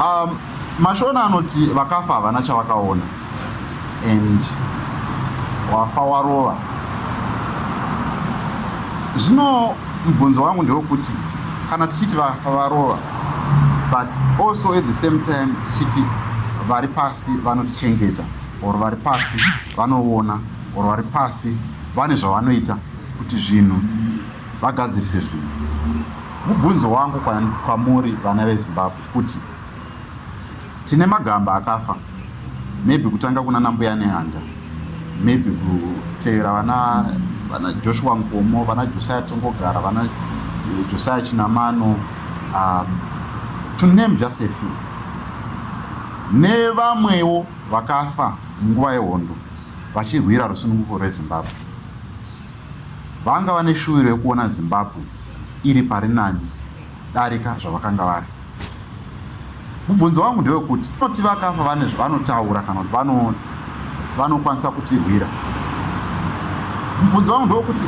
Um, mashona anoti vakafa havana chavakaona and wafa warova zvino mubvunzo wangu ndewokuti kana tichiti vafa varova but also at the same time tichiti vari pasi vanotichengeta or vari pasi vanoona or vari pasi vane zvavanoita kuti zvinhu vagadzirise zvinhu. Mubvunzo wangu kwamuri vana veZimbabwe kuti tine magamba akafa maybe kutanga kuna nambuya nehanda maybe kutevera vana vana joshua nkomo vana josaya tongogara vana eh, josaya chinamano um, to name just a few nevamwewo vakafa munguva yehondo vachirwira rusununguko rwezimbabwe vanga vane shuviro yekuona Zimbabwe iri pari nani kudarika zvavakanga vari. Mubvunzo wangu ndewekuti vanoti vakafa vane zvavanotaura kana kuti vano vanokwanisa kutirwira? Mubvunzo wangu ndewekuti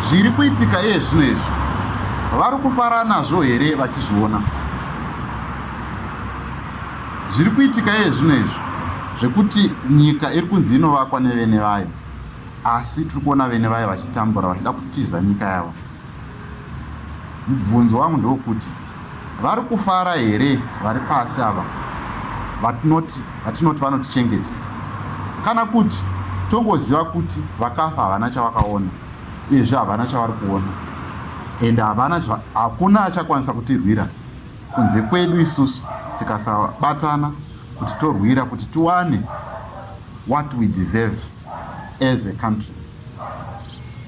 zviri kuitika iye zvino izvi vari kufara nazvo here vachizviona zviri kuitika iye zvino izvi zvekuti nyika iri kunzi inovakwa nevene vayo Asi tiri kuona vene vaye vachitambura vachida kutiza nyika yavo. Mubvunzo wangu ndewokuti vari kufara here vari pasi ava vatinoti vatinoti vanotichengeta kana kuti tongoziva kuti vakafa havana chavakaona izvi havana chavari kuona and havana hakuna achakwanisa kutirwira kunze kwedu isusu tikasabatana kuti torwira kuti tiwane what we deserve as a country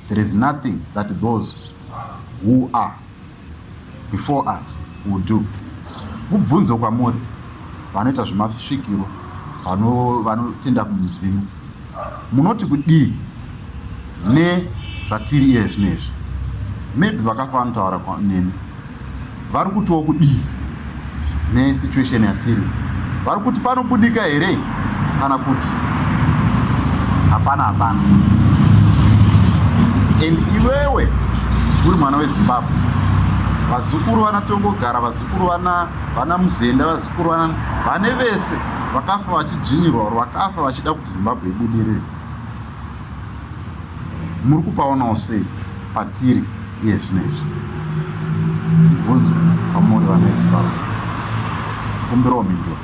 there is nothing that those who are before us will do kubvunzo kwamuri vanoita zvemasvikiro vanotenda kumudzimu munoti kudii nezvatiri iye zvino izvi maybe vakafa vanotaura nemi vari kutiwo kudii nesituation yatiri vari kuti panobudika here kana kuti hapana hapana and iwewe uri mwana wezimbabwe vazukuru vana tongogara vazukuru vana vana muzenda vazukuru vana vane vese vakafa vachidzvinyirwa or vakafa vachida kuti zimbabwe ibudirire muri kupaonawo sei patiri iye zvino izvi bvunzo kwamuri vana ezimbabwe kumbirawo mhinduro